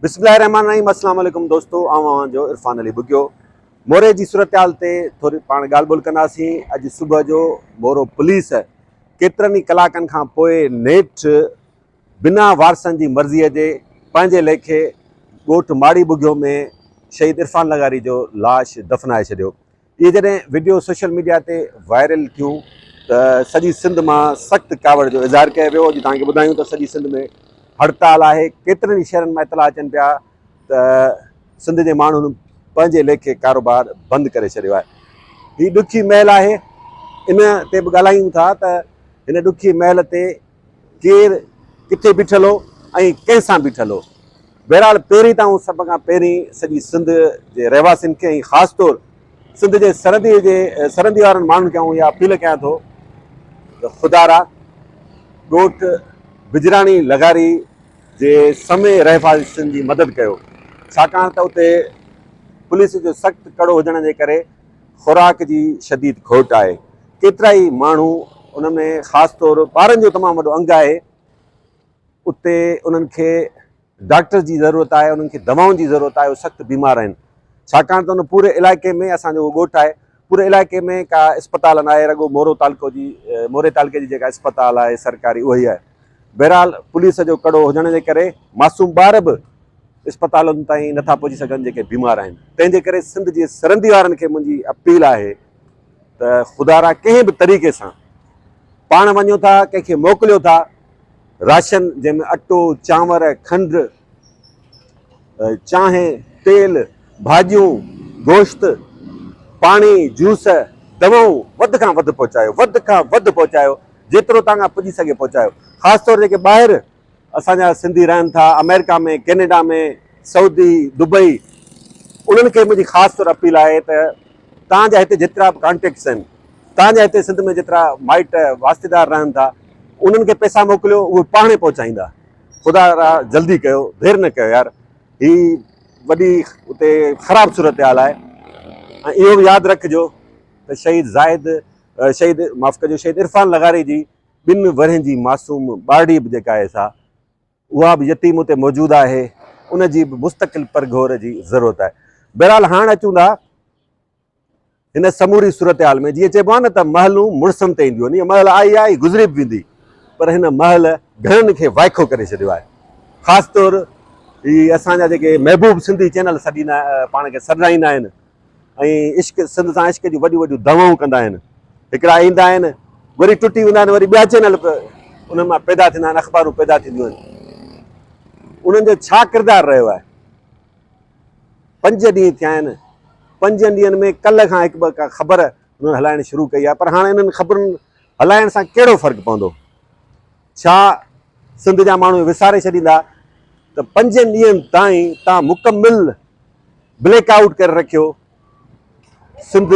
بسم الله الرحمن الرحيم السلام عليڪم دوستو آئون اوهان جو عرفان علي بگيو موري جي صورتحال تي ٿوري پاڻ ڳالهه ٻولهه ڪنداسين اڄ صبح جو مورو پوليس ڪيترن ئي ڪلاڪن کان پوء نيٺ بنا وارثن جي مرضيء جي پنهنجي ليکي ڳوٺ ماڙي بگيو ۾ شهيد عرفان لغاري جو لاش دفنائي ڇڏيو اهي جڏهن وڊيو سوشل ميڊيا تي وائرل ٿيون ته سڄي سنڌ مان سخت ڪاوڙ جو اظهار ڪيو ويو اڄ توهان کي ٻڌايون ته سڄي سنڌ ۾ هڙتال آهي ڪيترن ئي شهرن مان اطلاع اچن پيا ته سنڌ جي ماڻهن پنهنجي ليکي ڪاروبار بند ڪري ڇڏيو آهي هي ڏکي محل آهي ان تي به ڳالهايون ٿا ته هن ڏکي محل تي ڪير ڪٿي بيٺل هو ۽ ڪنهن سان بيٺل هو. بهرحال پهرين ته آئون سڀ کان پهرين سڄي سنڌ جي رهواسين کي ۽ خاص طور سنڌ جي سرحدي جي سرندي وارن ماڻهن کي آئون اها اپيل ڪيان ٿو ته خدارا ڳوٺ بجراڻي لغاري جي سمي رهواسين جي مدد ڪيو ڇاڪاڻ ته اتي پوليس جو سخت ڪڙو هجڻ جي ڪري خوراڪ جي شديد گهٽ آهي. ڪيترائي ماڻهو ان ۾ خاص طور ٻارن جو تمام وڏو انگ آهي. اتي انهن کي ڊاڪٽر جي ضرورت آهي، انهن کي دوائن جي ضرورت آهي، اهي سخت بيمار آهن. ڇاڪاڻ ته ان پوري علائقي ۾ اسان جو ڳوٺ آهي، پوري علائقي ۾ ڪا اسپتال ناهي، رڳو مورو تعلقو جي موري تعلقي جي جيڪا اسپتال آهي سرڪاري اهي آهي. بهرحال پوليس جو ڪڙو هجڻ جي ڪري معصوم ٻار به اسپتالن تائين نٿا پهچي سگهن جيڪي بيمار آهن تنهن جي ڪري سنڌ جي سرندي وارن کي منهنجي اپيل آهي ته خدارا ڪنهن به طريقي سان پاڻ وڃو ٿا ڪنهن کي موڪليو ٿا راشن جنهن ۾ اٽو چانور کنڊ چانهه، تيل، ڀاڄيون، گوشت، پاڻي، جوس، دوائون وڌ کان وڌ پهچايو، وڌ کان وڌ پهچايو، جيترو توهان کان پڄي سگهي پهچايو، خاص طور جيڪي ٻاهر اسان جا سنڌي رهن ٿا آمريڪا ۾ ڪينيڊا ۾ سعودي دبئي انهن کي منهنجي خاص طور اپيل آهي ته توهان جا هتي جيترا به ڪانٽيڪٽس آهن توهان جا هتي سنڌ ۾ جيترا مائٽ واسطيدار رهن ٿا انهن کي پئسا موڪليو اهي پاڻهي پهچائيندا. خدا را جلدي ڪيو دير نه ڪيو يار هي وڏي اتي خراب صورتحال آهي ۽ اهو به ياد رکجو ته شهيد زاهد شهيد معاف ڪجو شهيد عرفان لغاري جي ٻن ورهين جي معصوم ٻارڙي به جيڪا آهي سا اها به يتيم اتي موجود آهي ان جي به مستقل پرگهور جي ضرورت آهي بهرحال هاڻ اچون ٿا هن سموري صورتحال ۾ جيئن چئبو آهي نه ته محلون مڙسن تي اينديون آهن، اها محل آئي آهي ۽ گذري به ويندي، پر هن محل گهڻن کي وائکو ڪري ڇڏيو آهي. خاص طور هي اسان جا جيڪي محبوب سنڌي چينل سڏيندا پاڻ کي سڏرائيندا آهن ۽ عشق سنڌ سان عشق جون وڏيون وڏيون دعوائون ڪندا آهن، هڪڙا ايندا آهن وري ٽٽي ويندا آهن، وري ٻيا چينل انهن مان پيدا ٿيندا آهن، اخبارون پيدا ٿينديون آهن، انهن جو ڇا ڪردار رهيو آهي؟ پنج ڏينهن ٿيا آهن، پنجن ڏينهن ۾ ڪلهه کان هڪ ٻه ڪا خبر هنن هلائڻ شروع ڪئي آهي پر هاڻ انهن خبرن هلائڻ سان ڪهڙو فرق پوندو؟ ڇا سنڌ جا ماڻهو وساري ڇڏيندا ته پنجن ڏينهن تائين تان مڪمل بليڪ آئوٽ ڪري رکيو، سنڌ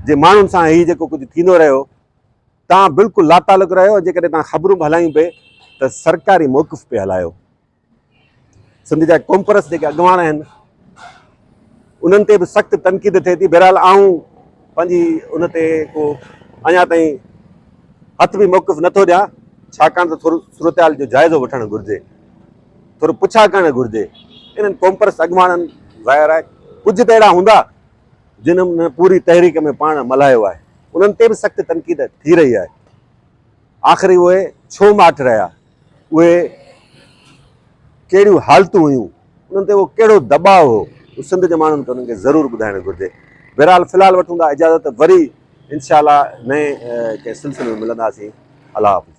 جي ماڻهن سان هي جيڪو ڪجهه ٿيندو رهيو تان بلڪل لاتعلق رهيو ۽ جيڪڏهن تان خبرون به هلايون پئي ته سرڪاري موقف پئي هلايو. سنڌ جا قومپرست جيڪي اڳواڻ آهن انهن تي به سخت تنقيد ٿئي ٿي بهرحال آئون پنهنجي ان تي ڪو اڃا تائين هٿ به موقف نٿو ڏيان ڇاڪاڻ ته ٿورو صورتحال جو جائزو وٺڻ گهرجي ٿورو پڇا ڪرڻ گهرجي انهن قومپرست اڳواڻن ظاهر آهي ڪجهه ته اهڙا هوندا جنهن پوري تحريڪ ۾ پاڻ ملهايو آهي انهن تي به سخت تنقيد ٿي رهي آهي آخر اهي ڇو ماٺ رهيا اهي ڪهڙيون حالتون هيون، انهن تي اهو ڪهڙو دٻاء هو، اهو سنڌ جي ماڻهن کي انهن کي ضرور ٻڌائڻ گهرجي. بهرحال في الحال وٺون ٿا اجازت، وري انشاء الله نئين ڪنهن سلسلي ۾ ملنداسين. الله حافظ.